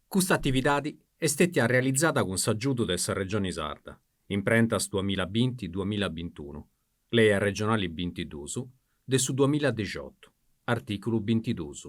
Custa atividadi est stètia realizada cun s'agiudu de sa Regioni Sarda, imprentas duamilla binti duamilla bintunu, Lei Arregionali bintiduus de su duamilla dexiotu, artìculu bintiduus.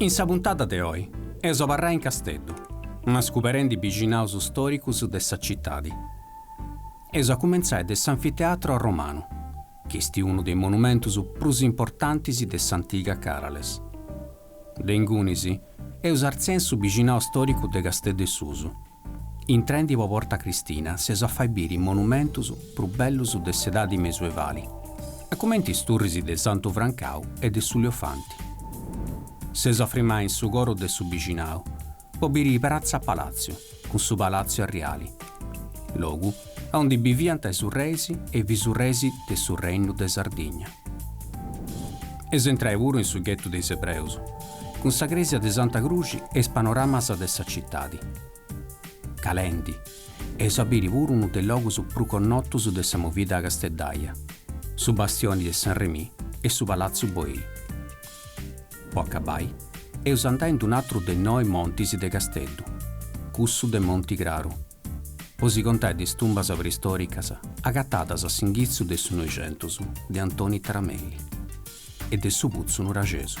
In sa puntada de oi eus a abarrai in Casteddu, ma scoberrendi bixinaus stòricus de sa citadi. Eus a cumentzai de s'Anfiteatro Arromanu, chi est unu de is monumentus prus importantis de s'antiga Carales. De ingunis eus a artziai a su bixinau stòricu de Casteddu e Susu. Intrendi po Porta Cristina si eus a fai biri is monumentus prus bellus de s'edadi mesuevali, a cumenti is turris de Santu Francau e de su Liofanti. Si eus a frimai in su coru de su bixinau po biri Pratza Palatziu cun su Palatziu Arriali, logu aundi biviant is urreis e is bisurreis de su Reinu de Sardigna. Eus a intrai puru in su ghetu de is Ebreus, cun sa crèsia de Santa Cruxi e is panoramas de sa citadi. Calendi, eus a biri puru unu de is logus prus connotus de sa movida casteddaia, su Bastioni de San Remì e su Palatziu Boyl. Po acabai, eus a andai in d'un'atru de is noi montis de Casteddu, cussu de Monti Craru. Po si contai de is tumbas preistoricas agatadas a s'inghitzu de su Noixentus de Antoni Taramelli e de su Putzu Nuraxesu.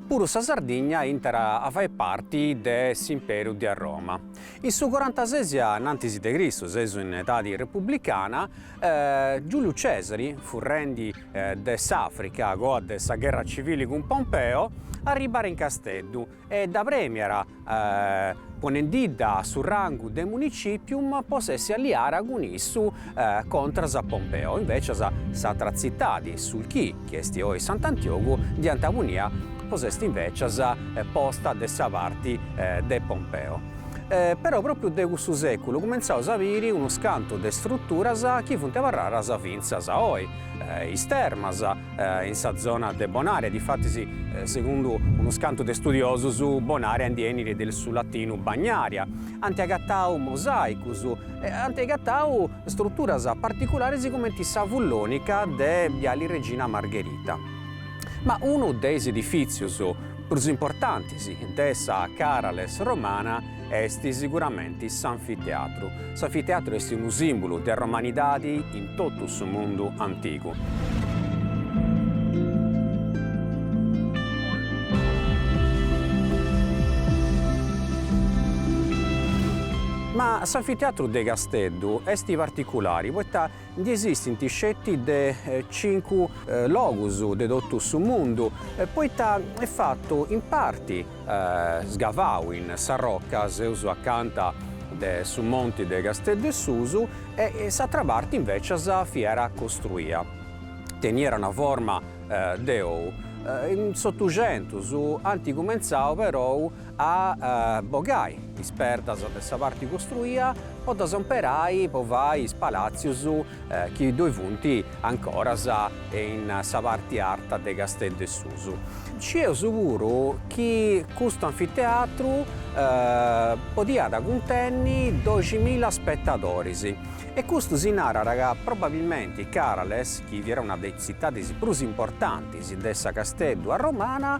Puru sa Sardigna intrat a fai parti de s'Imperu de Roma. In su corantases a innantis de Cristu, seus in edadi republicana, Giuliu Cesari, furrendi de s'Africa a coa de sa gherra civili cun Pompeo, arribat in Casteddu e dda premiat ponendidda a su rangu de municipium po s'essi alliara cun issu contras a Pompeo. Invecias s'atra tzitadi, Sulci, chi est oi Sant'Antiogu, dd'iant punia po s'essi invecias posta de sa parti de Pompeo. Però propriu de cussu seculu cumentzaus a biri unus cantu de struturas chi funt abarraras fintzas a oi, is termas, in sa zona de Bonaria, difatis segundu unus cantu de studiosus Bonaria iat a benniri de su latinu Bagnaria, ant agatau mosaicus e ant agatau struturas particularis cumenti sa Fullonica de Biali Regina Margherita. Ma unu de is edifizius prus importantis de sa Carales romana est siguramenti s'anfiteatru. S'anfiteatru est unu sìmbulu de romanidadi in totu su mundu antigu. Ma s'anfiteatru de Casteddu est particulari poita Ndi esistint sceti in cincu logus de totu su mundu, poita est fatu in parti sgavau in sa roca seus acanta de su monti de Casteddu 'e Susu e s'atra parti invecias fiat costruia. Teniat una forma de ou. In s'Otuxentus ant cumentzau perou a bogai is perdas de sa parti costruia po ddas omperai po fai is palàtzius chi ddoi funt ancoras in sa parti arta de Casteddu 'e Susu. Scieus puru chi custu anfiteatru podiat cuntenni doximilla spetadoris e custu si narat ca probabilmenti Carales, chi fiat una de is tzitadis prus importantis de sa Casteddu romana,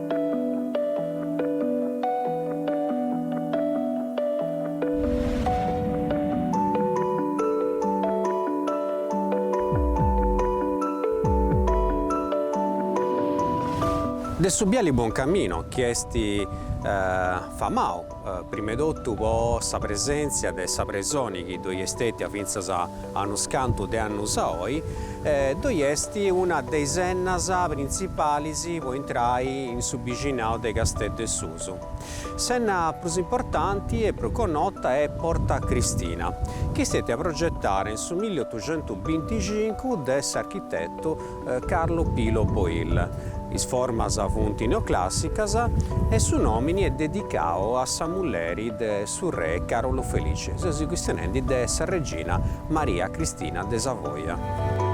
De su biali Buoncammino chi est famau. Prima 'e totu po sa presèntzia de sa presoni chi ddoi est stètia fintzas a unus cantu de annus a oi, ddoi est una de is ennas printzipalis po intrai in su bixinau de Casteddu 'e Susu. S'enna prus importanti e prus connota est Porta Cristina, chi est stètia progetada in su milli otuxentus binticincu de s'architetu Carlo Pilo Boyl. Is formas funt neoclàssicas e su nòmini est dedicau a sa mulleri de su re Carolu Felice, seus chistionendi de sa regina Maria Cristina de Savoia.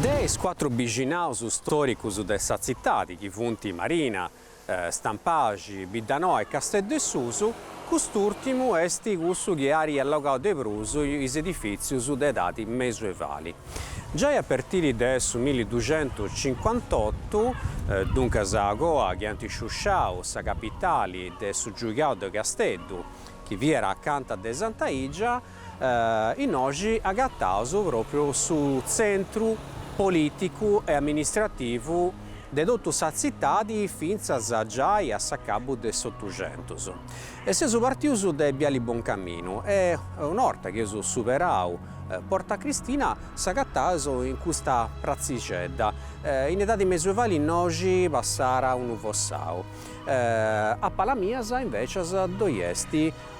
De is cuatru bixinaus stòricus de sa tzitadi, chi funt Marina, Stampaxi, Biddanoa e Casteddu 'e Susu, Cust'ùrtimu est cussu chi ari allogau de prus is edifìtzius de edadi mesuevali. Giai a pertiri de su milli duxentus cincuantotu, duncas coa chi ant sciusciau sa capitali de su giugiau de Casteddu, chi fiat acanta de Santa Igia, Innoxi agataus pròpriu su tzentru polìticu e amministrativu de totu sa tzitadi fintzas giai a s'acabu de s'Otuxentus. Seus partius de Biali Boncaminu e, una 'orta chi eus superau Porta Cristina, s'agataus in custa pratzixedda, in edadi mesuevali innoxi passàt unu fossau. A palas mias, invècias, ddoi est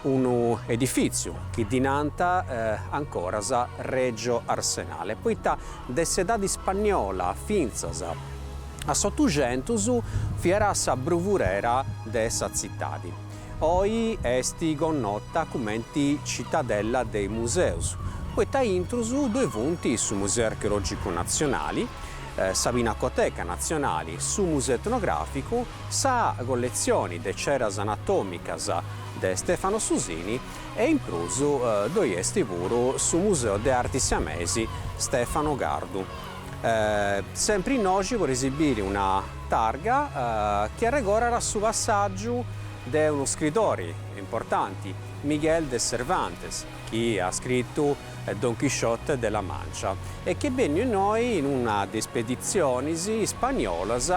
Unu edifìtziu chi ddi nant ancoras Regio Arsenale, poita de s'edadi ispanniola fintzas a s'Otuxentus fiat sa bruvurera de sa tzitadi. Oi est connota cumenti Cittadella dei Musei, poita intrus ddoi funt su Museu Archeològicu Natzionali, sa Pinacoteca Natzionali, su Museu Etnogràficu, Sa colletzioni de ceras anatòmicas de Stefano Susini e in prus ddoi est puru su Museu de Arti Siamesi Stefano Cardu. Sempri innoi podeis biri una targa chi arregorat su passàgiu de unu scridori importanti, Miguel de Cervantes, chi at scritu Don Chisciote de la Mancia e chi est benniu innoi in una de is speditzionis ispanniolas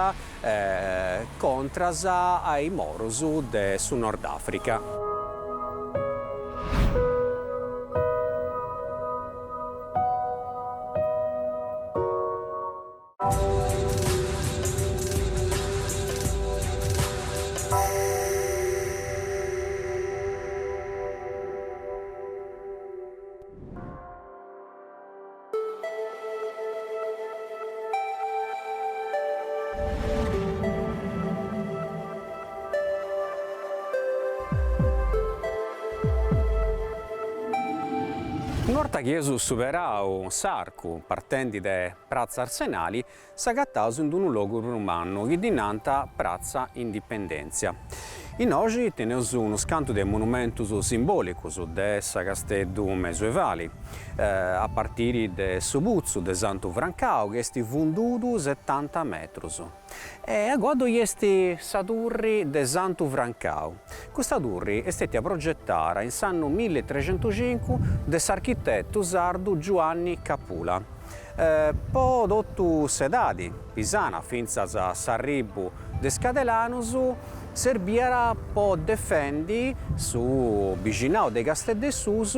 contras a is morus de su Nordafrica. Una 'orta chi eus superau s'arcu partendi de Pratza Arsenali, s'agataus in d'unu logu prus mannu chi ddi nant Pratza Indipendèntzia. Innoxi teneus unus cantu de monumentus simbòlicus de sa Casteddu mesuevali, a partiri de su putzu de Santu Francau chi est fundudu setanta metrus. E agoa ddoi est sa turri de Santu Francau. Custa turri est stètia progetada in s'annu milli e trexentus cincu de s'architetu sardu Giuanni Capula. po totu s'edadi, pisana fintzas a s'arribu de is cadelanus, serbiat po defendi su bixinau de Casteddessus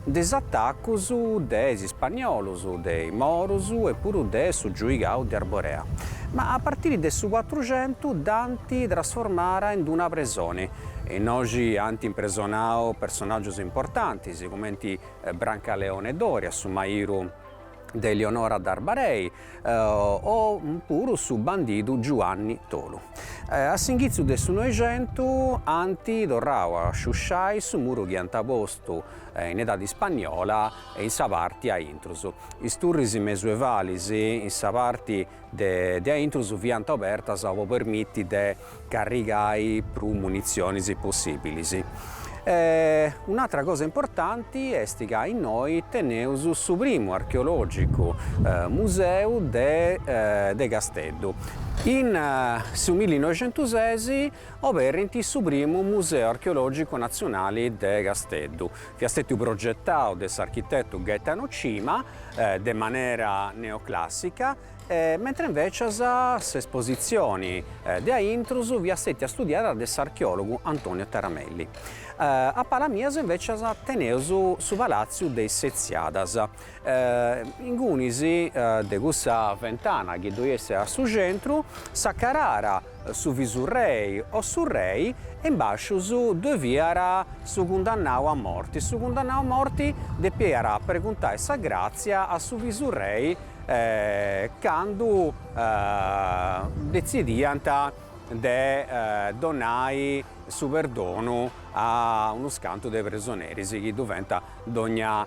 de is atacus de is ispanniolus, de is morus e puru de su giuigau de Arborea. Ma a partiri de su cuatruxentu dd'ant trasformada in d-una presoni, innoxi ant impresonau personaggius importantis cumenti Brancaleone Doria, su mairu de Elionora d'Arbarei, o puru su bandidu Giuanni Tolu. A s'inghitzu de su Noixentu ant torrau a sciusciai su muru chi iant postu in edadi ispanniola in sa parti de a intrus. Is turris mesuevalis in sa parti de a intrus fiant obertas po permiti de carrigai prus munitzionis possibilis. Un'atra cosa importanti est ca innoi teneus su primu archeologicu museu de Casteddu. In su millinoixentuses oberint su primu museu archeologicu natzionali de Casteddu, fiat stetiu progetau de s'architetu Gaetano Cima de manera neoclassica, mentre invècias s'espositzioni de a intrus fiat stètia studiada de s'archeòlogu Antonio Taramelli. A pala mias invècias teneus su Palàtziu de is Setziadas, ingunis de cussa fentana chi ddoi est a su centru, s'acararàt, su visurrei o su rei e in bascius ddoi fiat su cundannau a morti, su cundannau a morti depiat preguntai sa gratzia a su visurrei candu detzidiant de donai su perdonu a unus cantu de presoneris chi ddoi fiant dogna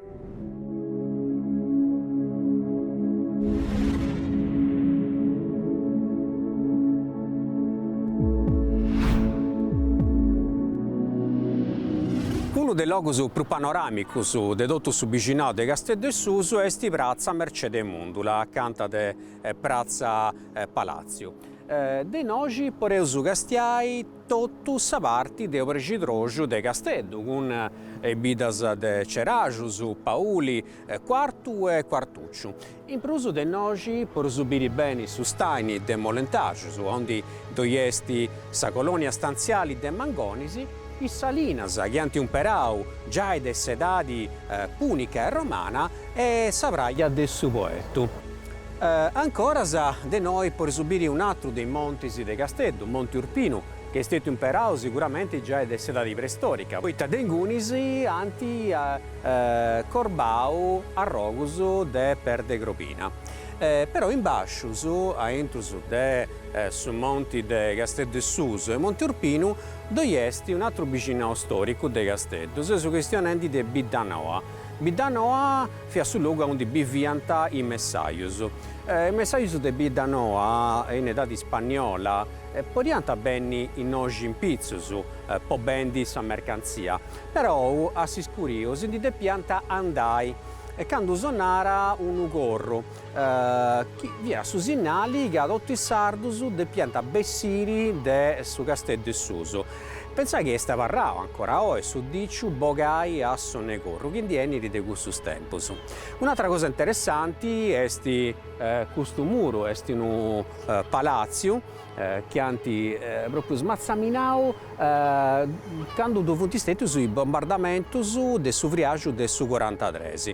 Unu de is logus prus panoràmicus de totu su bixinau de Casteddu 'e Susu est pratza Mercede Mundula, acanta de pratza Palàtziu. De innoxi podeus castiai. totu sa parti de obrexidroxu de Casteddu, cun is biddas de Ceraxus, Pauli, Cuartu e Cuartucciu. In prus de innoxi podeus biri beni su staini de Molentaxus, ondi ddoi est sa colonia stantziali de mangonis, is salinas chi ant umperau giai de s'edadi pùnica e romana e sa praja de su Poetu. Ancoras de nou podeus biri un'atru de is montis de Casteddu, Monti Urpinu, che est stetiu imperau siguramenti giai de s'edadi preistorica, poita de ingunis ant cobrau arrogus de perda crobina. Però in bascius, a intrus de su monti de Casteddu 'e susu e Monti Urpinu, ddoi est un'àteru bixinau storicu de Casteddu, seus chistionendi de Biddanoa. Biddanoa. Fiat su logu aundi biviant is messajus. Is messajus de Biddanoa in edadi ispanniola podiant benni innoxi in pitzus po bendi sa mercantzia, però a s'iscuriu si ndi depiant andai candu sonara unu corru chi fiat su sinnali ca totu is sardus depiant bessiri de su Casteddu 'e susu. Pensai chi est abarrau ancora oi su diciu bogai a sonu 'e corru chi ndi benit de cussus tempus. Un'atra cosa interessanti est custu muru, est unu palatziu chi ant propriu smatzaminau candu ddoi funt stètius is bombardamentus de su friaxu de su corantatres.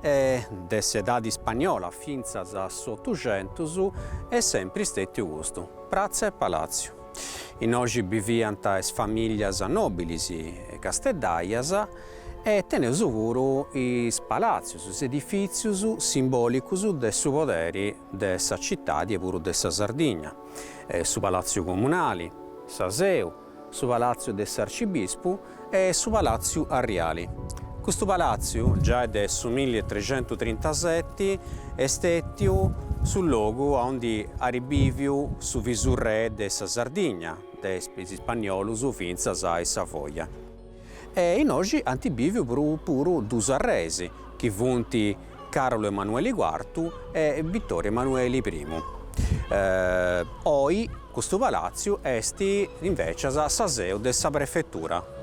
e de s'edadi ispagnola fintzas a s'Otuxentus est sempri istetiu custu, Pratza 'e Palàtziu. Innoxi biviant is famìllias nòbilis casteddaias e teneus puru is palatzius, is edifìtzius simbòlicus de su poderi de sa citadi e puru de sa Sardigna, su Palatziu Comunali, sa Seu, su palàtziu de s'arcibispu e su palàtziu arriali. Custu palàtziu, giai de su milli e triscientutrintaseti, est stètiu su logu aundi at bìviu su visurrè de sa Sardigna, de is ispanniolus fintzas a is Savoia. E innoxi ant bìviu puru puru duus arreis, chi funt Carlu Emanueli Cuartu e Vittorio Emanueli Primu. Oi custu palàtziu est invècias sa seu de sa prefetura.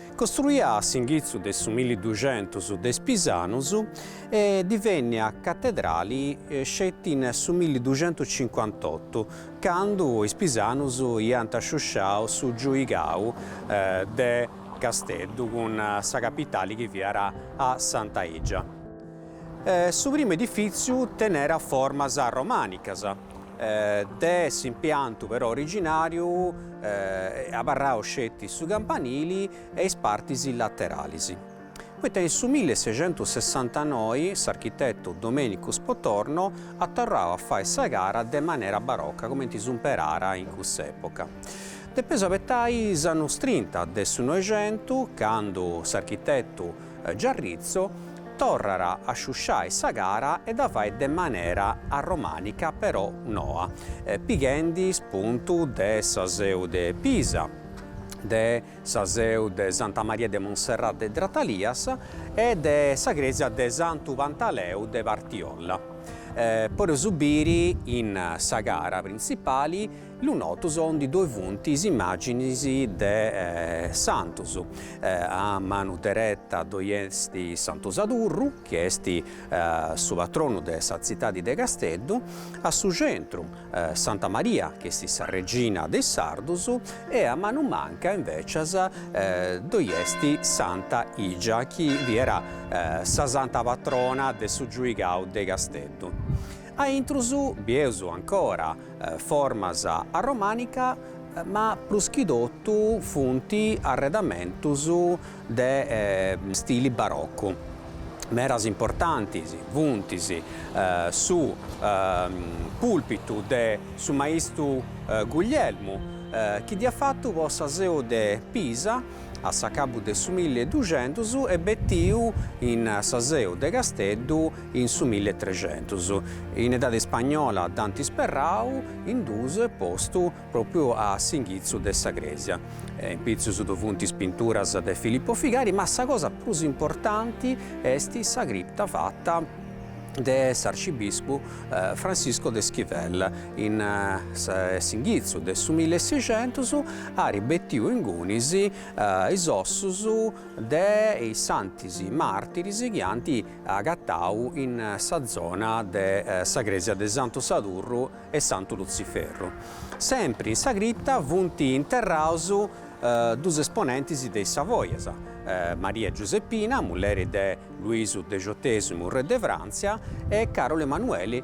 Costruia a s'inghitzu de su milliduxentus de is pisanus e divennìa catedrali sceti in su milliduxentuscincuantotu, candu is pisanus iant sciusciau su giuigau de Casteddu cun sa capitali chi fiat a Santa Igia. Su primu edifìtziu tenera formas romanicas. De s'impiantu però originàriu abarradu sceti su campanili e is partis lateralis. Poita in su milli e seicentus sessantanoi s'architetu Domenicu Spotorno at torrau a fai sa cara de manera barocca comenti s'umperàt in cussa epoca. Depeus abetai is annus trinta de su Noixentus candu s'architetu Giarritzo torrat a sciusciai sa cara e dda fait de manera arromànica però noa, pighendi spuntu de sa seu de Pisa, de sa seu de Santa Maria de Monserrat de Dratalias e de sa crèsia de Santu Pantaleu de Partiolla. Podeus biri in sa cara printzipali lunotus aundi ddoe funt is immàginis de santus. A manu dereta ddoi est Santu Sadurru, chi est su patronu de sa tzitadi de Casteddu, a su centru Santa Maria, chi est sa regina de is sardus, e a manu manca invècias ddoi est Santa Igia, chi fiat sa santa patrona de su giuigau de Casteddu. A intrus bieus ancora formas arromànicas, ma prus chi totu funt arredamentus de stili barocu. Meras importantis funt su pùlpitu de su maistu Guglielmu, chi dd'iat fatu po sa seu de Pisa a s'acabu de su milli e duxentus e betiu in sa seu de Casteddu in su milli e trexentus, in edadi spagnola dd'ant isperrau in duus e postu propriu a s'inghitzu de sa cresia. In pitzus ddoi funt is pinturas de Filippo Figari, ma sa cosa prus importanti est sa cripta fata de s'arcibispu Francisco de Esquivel in s'inghitzu de su milli e sexentus, at betiu ingunis is ossus de is santus martiris chi ant agatau in sa zona de sa crèsia de Santu Sadurru e Santu Lutziferru. Sempri in sa cripta funt interraus duus esponentis de is Savoias, Maria Giuseppina, mulleri de Luisu Dexotesimu, re de Fràntzia, e Càrolu Emanueli,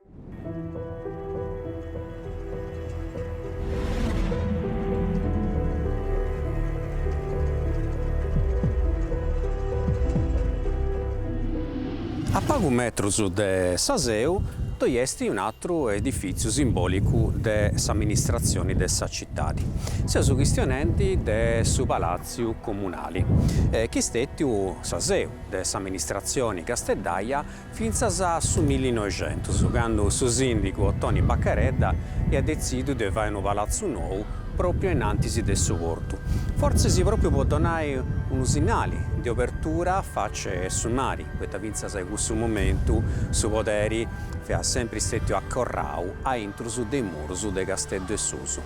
A pagu metrus de sa seu ddoi est un'atru edifìtziu simbòlicu de s'amministratzioni de sa citadi. Seus chistionendi de su Palàtziu Comunali, chi est stètiu sa seu de s'amministratzioni casteddaia, Fintzas a su millinoixentus, candu su sìndigu Otoni Baccaredda iat detzidu de fai unu palatzu nou pròpiu in antis de su portu, fortzis pròpiu po donai unu sinnali de obertura a face 'e su mari, poita fintzas a cussu momentu su poderi fiat sempri stètiu acorrau a intrus de is murus de Casteddu 'e Susu.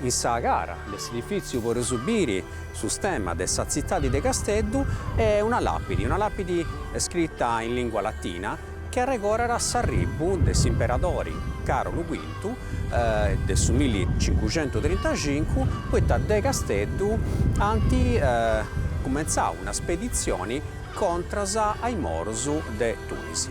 In sa cara de s'edifìtziu podeus biri su stemma de sa tzitadi de Casteddu e una làpidi, una làpidi scrita in lìngua latina chi arregorat s'arribu de s'imperadori Carlu Quintu de su milli cincuxentu trintaxincu, poita de Casteddu ant cumentzau una speditzioni contras a is morus de Tunisi.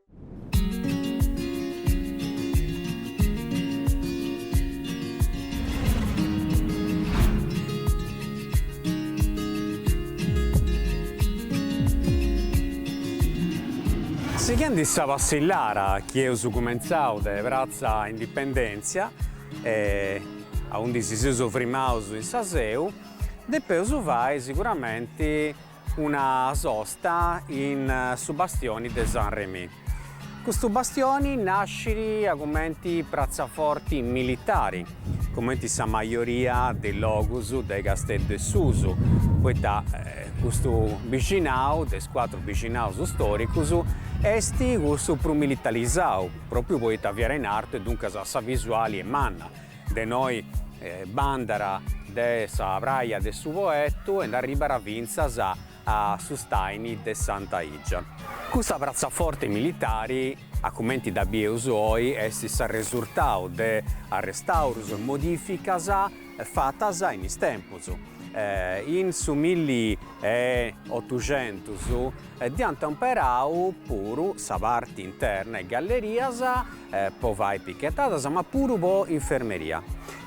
Sighendi sa passillara chi eus cumentzau de pratza Indipendèntzia, aundi si seus frimaus in sa seu, depeus fai siguramenti una sosta in su bastioni de San Remi. Custu bastioni nascit a cumenti pratzaforti militari, cumenti sa majoria de is logus de Casteddu 'e Susu, poita custu bixinau, de is cuatru bixinaus storicus, est cussu prus militarizau, propriu poita fiat in artu e duncas sa visuali est manna, de innoi bandat de sa praja de su Poettu e nd'arribat fintzas a su staini de Santa Igia. Cussa pratzaforti militari, a cumenti dda bieus oi, est s'arresurtau de arrestaurus e modificas fatas in is tempus. In su milli e otuxentus dd'iant omperau puru sa parti interna e gallerias po fai pichetadas ma puru po infermeria.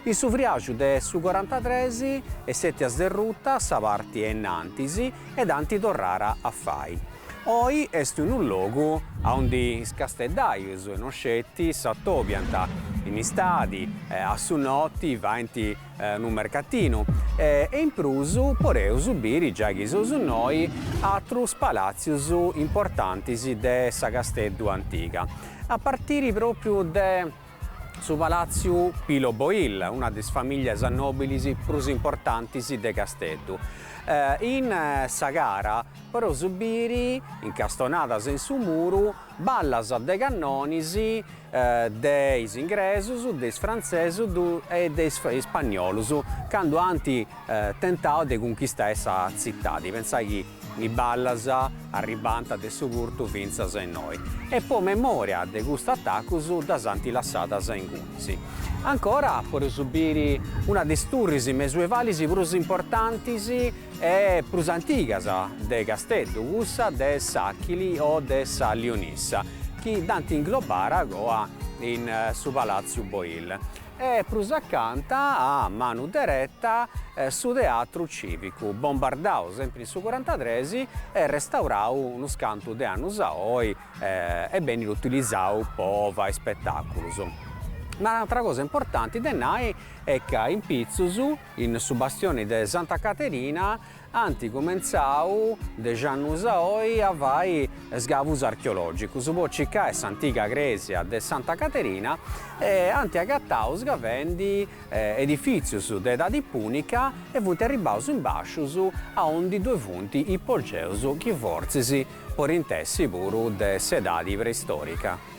In su friàxu de su corantatres est stètia sderruta sa parti 'e innantis e dd'ant torrara a fai. Oi est unu logu a undi is casteddaius no sceti s'atobiant in istadi a su noti faint unu mercatinu e in prus podeus biri giai chi seus innoi atrus palàtzius importantis de sa Casteddu antiga, a partiri pròpriu de su palàtziu Pilo Boyl, una de is famìllias nòbilis prus importantis de Casteddu. In sa cara podeus biri incastonadas in su muru Ballas de cannonis de is ingresus, de is frantzesus e de is spanniolus candu ant tentau de cunchistai sa tzitadi, pentzai chi is ballas arribbànta de su portu fintzas innoi e po memoria de custus atacus ddas ant lassadas ingunis. Ancora poreus biri una de is turris mesuevalis prus importantis e prus antigas de Casteddu, cussa de s'Achili o de sa Lionissa, chi dd'ant inglobara agoa in su Palàtziu Boil, e prus acanta, a manu dereta, su Teatru Cìvicu, bombardau sempri in su curantatres e restaurau unus cantu de annus a oi e benit utilizau po fai ispetàculus. Ma un'atra cosa importanti de nai est ca in pitzus, In su bastioni de Santa Caterina ant cumentzau dexi annus a oi a fai sgavus archeològicus po circai s'antiga crèsia de Santa Caterina e ant agatau sgavendi edifìtzius de edadi pùnica e funt arribbaus in bàscius a undi ddoi funt ipogèus chi fortzis podint essi puru de s'edadi preistòrica.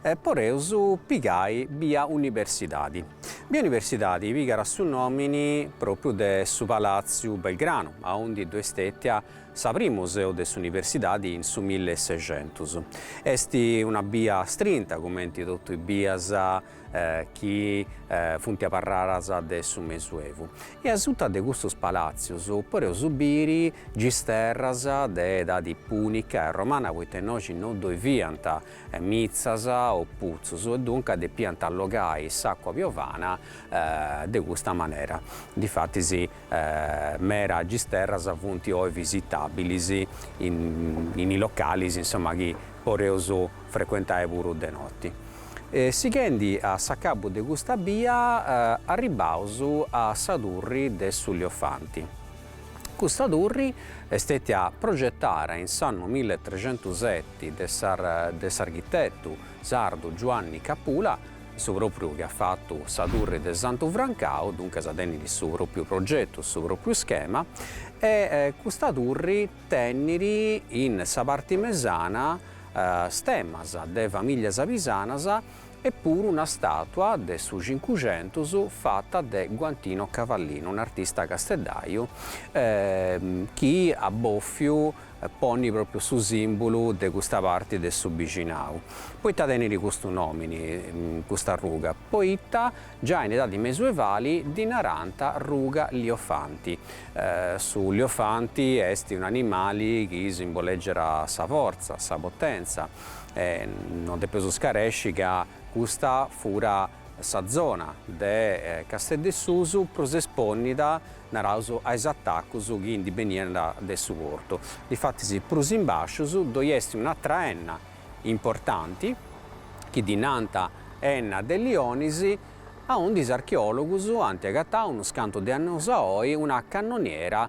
E poreus pigai bia Universidadi. Bia Universidadi pigat su nòmini pròpriu de su Palàtziu Belgranu, aundi ddoi est stètia sa primu seu de s'Universidadi in su mille e sexentus. Est una bia astrinta cumenti totu is bias chi funt abarradas de su mesuevu. E asuta de custus palàtzius poreus biri gisterras de edadi pùnica e romana, poita innoxi no ddoi fiant mitzas o putzus e duncas depiant allogai s'àcua piovana de custa manera. Difatis mera gisterras funt oi visitàbilis in is localis insoma chi poreus frecuentai puru de noti. Sighendi a s'acabu de custa bia arribbaus a sa turri de su Liofanti. Custa turri est stetia progetara in s'annu milletrecentuseti de s'architetu sardu Giuanni Capula, su propriu chi at fatu sa turri de Santu Francau, duncas tenit su propriu progetu, su propriu schema, e custa turri tenit in sa parti mesana stemas de familias pisanas, e puru una stàtua de su Cincuxentus fata de Guantino Cavallino, un'artista casteddaju, chi at bòfiu ponni pròpriu su sìmbulu de custa parti de su bixinau. Poita tenit custu nòmini custa ruga? Poita giai in edadi mesuevali ddi narànta ruga liofanti. Su liofanti est un'animali chi simboleggiat sa fortza, sa potèntzia. E no depeus scaresci ca custa fura sa zona de Casteddesusu prus espònnida, naraus, a is atacus chi ndi beniant de su portu. Difatis prus in bàsciu ddoi est un'atra enna importanti, chi ddi nant Enna de Lionis, aundi is archeòlogus ant agatau, unus cantu de annus a oi, una cannoniera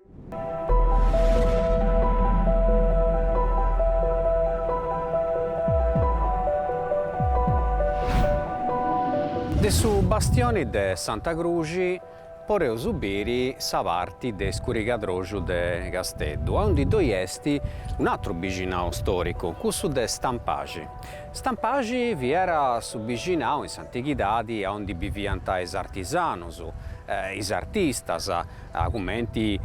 De su bastioni de Santa Cruxi poreus biri sa parti de iscurigadroxu de Casteddu, aundi ddoi est un'atru bixinau storicu, cussu de Stampaxi. Stampaxi fiat su bixinau in s'antighidadi aundi biviant is artisanus, is artistas, cumenti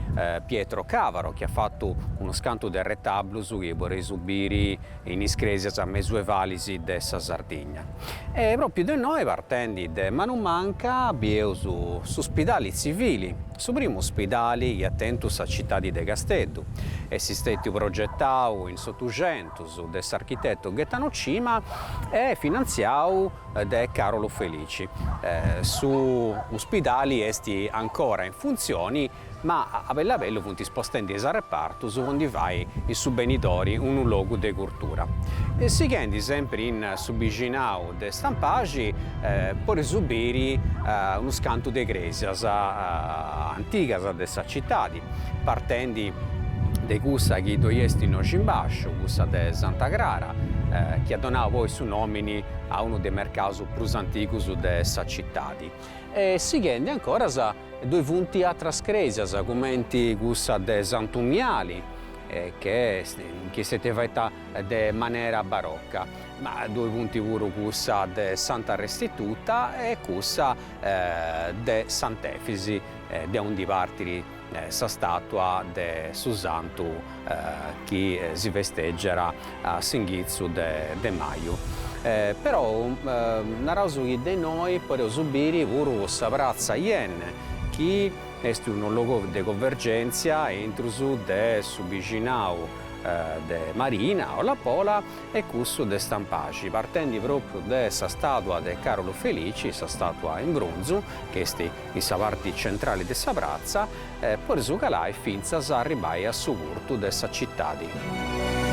Pietro Cavaro chi at fatu unus cantu de retablus chi podeus biri in is cresias mesuevalis de sa Sardigna. E propriu de innoi partendi de manu manca bieus su Spidali Tzivili, su primu spidali chi at tentu sa citadi de Casteddu, est stètiu progetau in s'Otuxentus de s'architetu Gaetano Cima e finantziau de Carolu Felici. Su uspidali est ancora in funtzioni ma a bellu a bellu funt spostendi is arrepartus po ndi fai in su benidori unu logu de curtura. Sighendi sempri in su bixinau de Stampaxi podeus biri unus cantu de cresias antigas de sa citadi. partendi de cussa chi ddoi est innoxi in bàsciu, cussa de Santa Crara, chi at donau poi su nomini a unu de is mercaus prus antigus de sa citadi. E sighendi ancoras ddoi funt atras cresias cumenti cussa de Santu Miali, che chi s'est fata de manera barocca, ma ddoi funt puru cussa de Santa Restituta e cussa de Sant'Efisi de undi partit sa stàtua de su santu chi si festegiat a s'inghitzu de maju. Però naraus chi de innoi podeus biri puru sa pratza Yenne chi est unu logu de convergèntzia intrus de su bixinau de Marina, o Lapola, e cussu de Stampaxi, partendi pròpriu de sa stàtua de Carolu Felici, sa stàtua in brunzu, chi est in sa parti centrali de sa pratza, podeus calai fintzas a arribbai a su portu de sa citadi.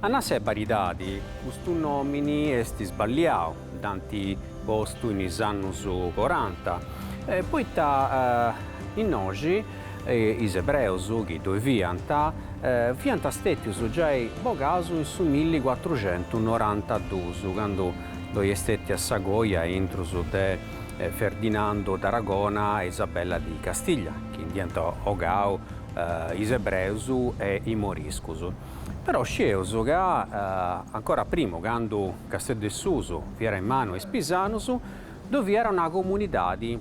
A nai sa beridadi, custu nòmini est sballiau, dd'ant postu in is annus coranta, poita innoxi is ebreus chi ddoi fiant, fiant stètius giai bogaus in su milli cuatruxentu norantaduus, candu ddoi est stètia sa coja intrus de Ferdinando d'Aragona e Isabella di Castiglia, chi ndi iant bogau is ebreus e i moriscus. Però scieus ca ancora a primu, candu Casteddu 'e Susu fiat in manu a is pisanus, ddoi fiat una comunidadi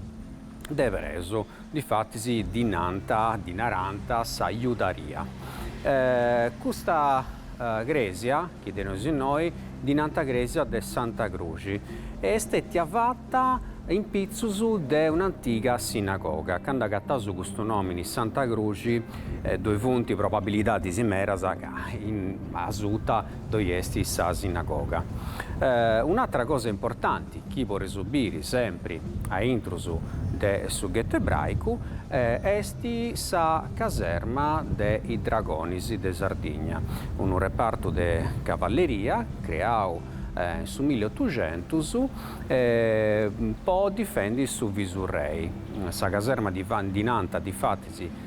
de ebreus, difatis ddi nant, ddi narant, sa Iudaria. Custa crèsia, chi teneus innoi, ddi nant crèsia de Santa Cruxi e est stètia fata in pitzus de un'antiga sinagoga. Candu agataus custu nòmini Santa Cruxi ddoi funt probabilidadis meras ca in asuta ddoi est sa sinagoga. Un'atra cosa importanti chi podeus biri sempri a intrus de su ghettu ebraicu est sa caserma de is Dragonis de Sardigna, unu repartu de cavalleria creau in su milli otuxentus po difendi su Visurrei. Sa caserma ddi nant difatis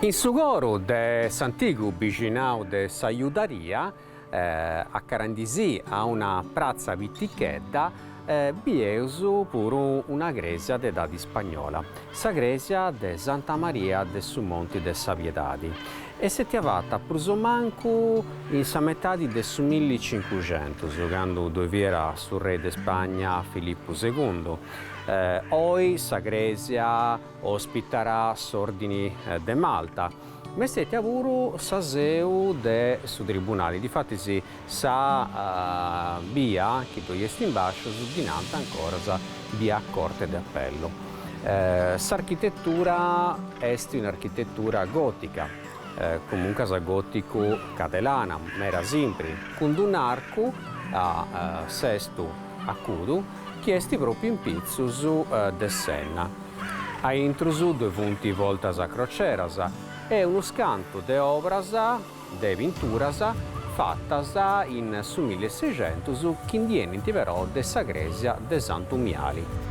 In su coru de s'antigu bixinau de sa Judaria, acarendi·sì a una pratza pitichedda, bieus puru una crèsia de edadi ispagnola, sa crèsia de Santa Maria de su Monti de sa Piedadi, est stètia fata prus o mancu in sa metadi de su milli cincuxentus, candu ddoi fiat su rei de Spagna Filippu segundu, oi sa crèsia. Ospitat a s'Òrdini de Malta, ma est stètia puru sa seu de su tribunali, difatis sa bia chi ddoi est in Bàscius ddi nant ancoras bia Corte de Appello. S'architetura est un'architetura gòtica, comuncas gòticu cadelana, mera simpri, cun d'un'arcu a sestu acudu, chi est pròpiu in pitzus de s'enna. A intrus ddoi funt bortas a croceras e unu scantu de obras de pinturas fatas in su milli e seicentus chi ndi 'enint però de sa crèsia de Santu Miali.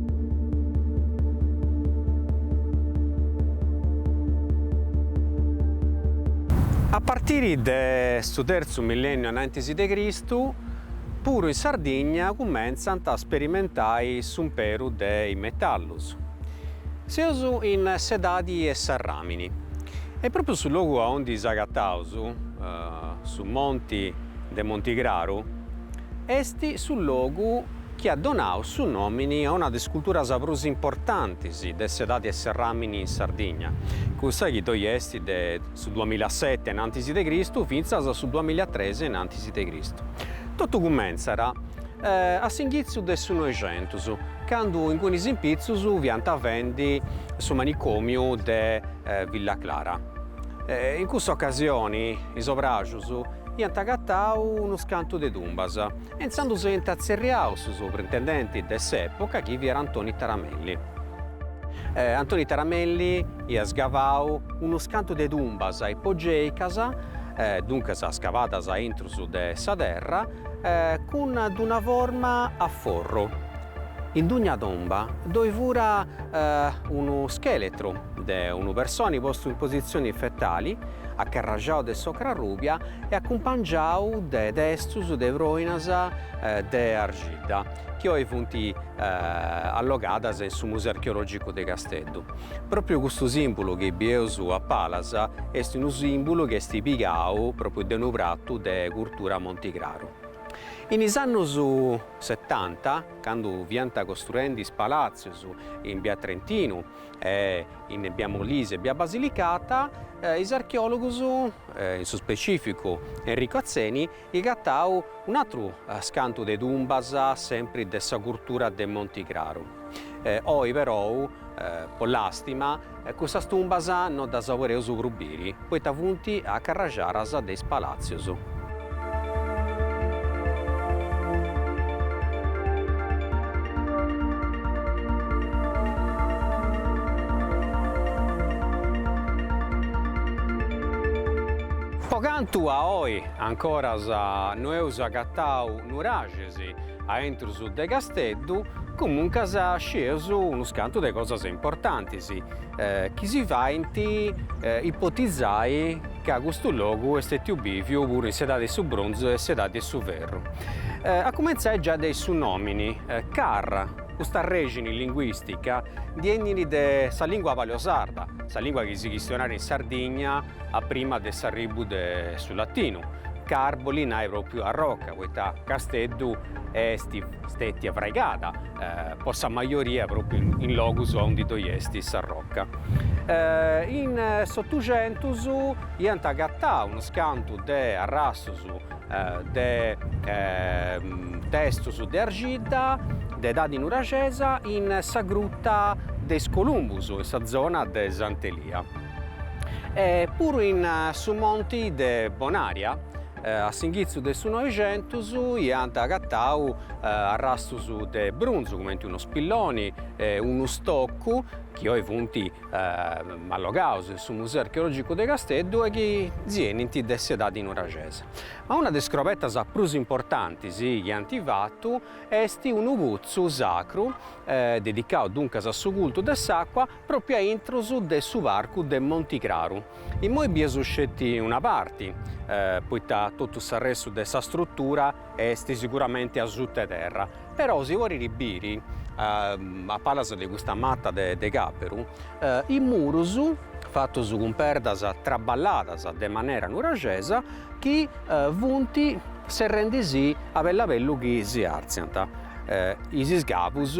A partiri de su terzu millènniu anantis de Cristu, puru in Sardigna cumentzant a sperimentai s'umperu de is metallus. Seus in s'edadi 'e s'arràmini e pròpriu su logu aundi s'agataus, su monti de Montigraru, est su logu, chi at donadu su nòmini a una de is culturas prus importantis de s'edadi 'e s'arràmini in Sardigna, cussa chi ddoi est de su duamilaseti innantis de Cristu fintzas a su duamilatres innantis de Cristu. Totu cumentzat a s'inghitzu de su Noixentus, candu ingunis in pitzus fiant fendi su manicòmiu de Villa Clara. In cussa ocasioni is obràjus iant agatau unus cantu de tumbas, E intzandus iant tzerriau su soprintendenti de s'epoca chi fiat Antoni Taramelli. E Antoni Taramelli iat scavau unus cantu de tumbas ipogeicas, duncas scavadas intrus de sa terra, cun d'una forma a forru. In dugna tumba ddoi fura unu scheletru. de unu personi postu in positzioni fetali, acarraxau de s'ocra rubia e acumpangiau de testus de proinas de argidda, chi oi funt allogadas in su Museu Archeologicu de Casteddu. Pròpriu custu sìmbulu chi bieus a palas est unu sìmbulu chi est pigau pròpriu de unu pratu de curtura Montigraru. In is annus setanta, candu fiant costruendi is palàtzius in Bia Trentinu, in bia Molise e bia Basilicata, is archeòlogus, in su specifìcu Enrico Atzeni, chi at agatau un'atru scantu de tumbas sempri de sa curtura de Montigraru. Oi perou, po làstima, cussas tumbas no ddas podeus prus biri. poita funt acarraxadas de is palàtzius. Po cantu a oi ancoras no eus agatau nuraxis aintrus de Casteddu, comuncas scieus unus cantu de cosas importantis, chi si faint ipotizai ca custu logu est stètiu bìviu puru in s'edadi 'e su brunzu e in s'edadi 'e su ferru, a cumentzai già de su nòmini Car, custa rèxini linguìstica ndi 'enit de sa lìngua paleosarda, sa lìngua chi si chistionàt in Sardigna a prima de s'arribu de su latinu, Car bolit nai pròpriu arroca, poita Casteddu est stètia fraigada po sa majoria pròpriu in logus aundi ddoi est s'arroca. In s'Otuxentus iant agatau unas cantu de arrastus de testus de arxidda de edadi nuraxesa in sa gruta de is Columbus, in sa zona de Sant'Elia. E puru in su monti de Bonaria A s'inghitzu de su Noixentus iant agatau arrastus de brunzu cumenti unu spilloni e unu stoccu chi oi funt allogaus in su Museu Archeologicu de Casteddu e chi 'enint de s'edadi nuraxesa. Ma una de is scrobetas prus importantis chi ant fatu est unu putzu sacru, dedicau duncas a su cultu de s'acua, Pròpiu a intros de su parcu de Monti Craru. Innoi bieus sceti una parti, poita totu s'arrestu de sa strutura est siguramenti asuta 'e terra, però si podit biri a palas de custa mata de càperu is murus fatus cun perdas traballadas de manera nuraxesa chi funt serrendi·sì a bellu a bellu chi si artziant. Is iscavus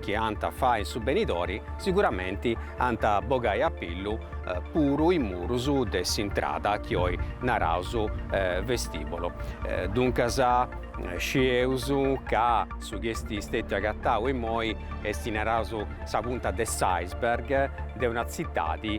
chi ant a fai in su benidori siguramenti ant a bogai a pillu puru is murus de s'intrada chi oi naraus vestibolo. Duncas scieus ca su chi est stetiu agatau immoi est naraus sa punta de s'iceberg de una tzitadi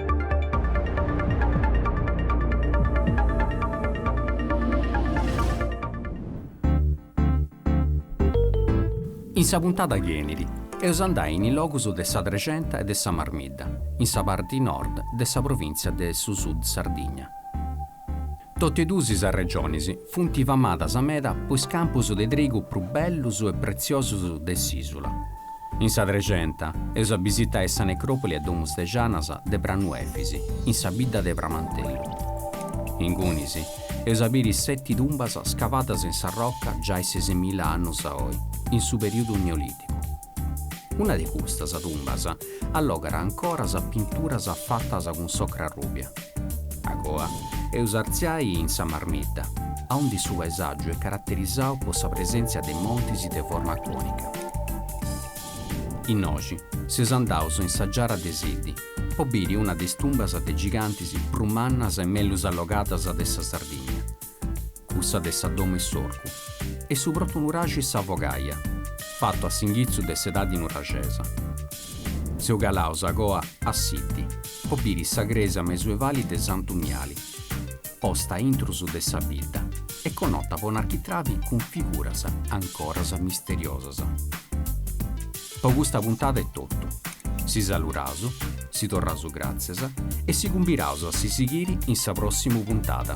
In sa puntada chi 'enit eus a andai in is logus de sa Trexenta e de sa Marmidda, in sa parti nord de sa provìntzia de su Sud Sardigna. Totu e duas is regionis funt famadas meda po is campus de trigu prus bellus e pretziosus de s'ìsula. In sa Trexenta eus a bisitai sa necròpoli a domus de Janas de Pranu Efis, in sa bidda de Pramantellu. Ingunis eus a biri seti tumbas scavadas in s'arroca giai sesimila annus a oi, in su perìodu Neolìticu. Una de custas tumbas allogat ancora sas pinturas fatas cun s'ocra rùbia. A coa eus artziai in sa Marmidda, aundi su paesàgiu est caraterizau po sa presèntzia de montis de forma cònica. Innoxi seus andaus in sa giara de Siddi po biri una de is tumbas de gigantis prus mannas e mellus allogadas de sa Sardigna. cussa de sa domo 'e s'orcu, e su protu nuraxi Sa Fogaia, fatu a s'inghitzu de s'edadi nuraxesa. Seus calaus a coa a Siddi, po biri sa crèsia mesuevali de Santu Miali, posta a intrus de sa bidda e conota po un'architravi cun figuras ancoras misteriosas. Po custa puntada est totu, si saluraus, si torraus gràtzias e si cumbiraus a si sighiri in sa pròssimu puntada.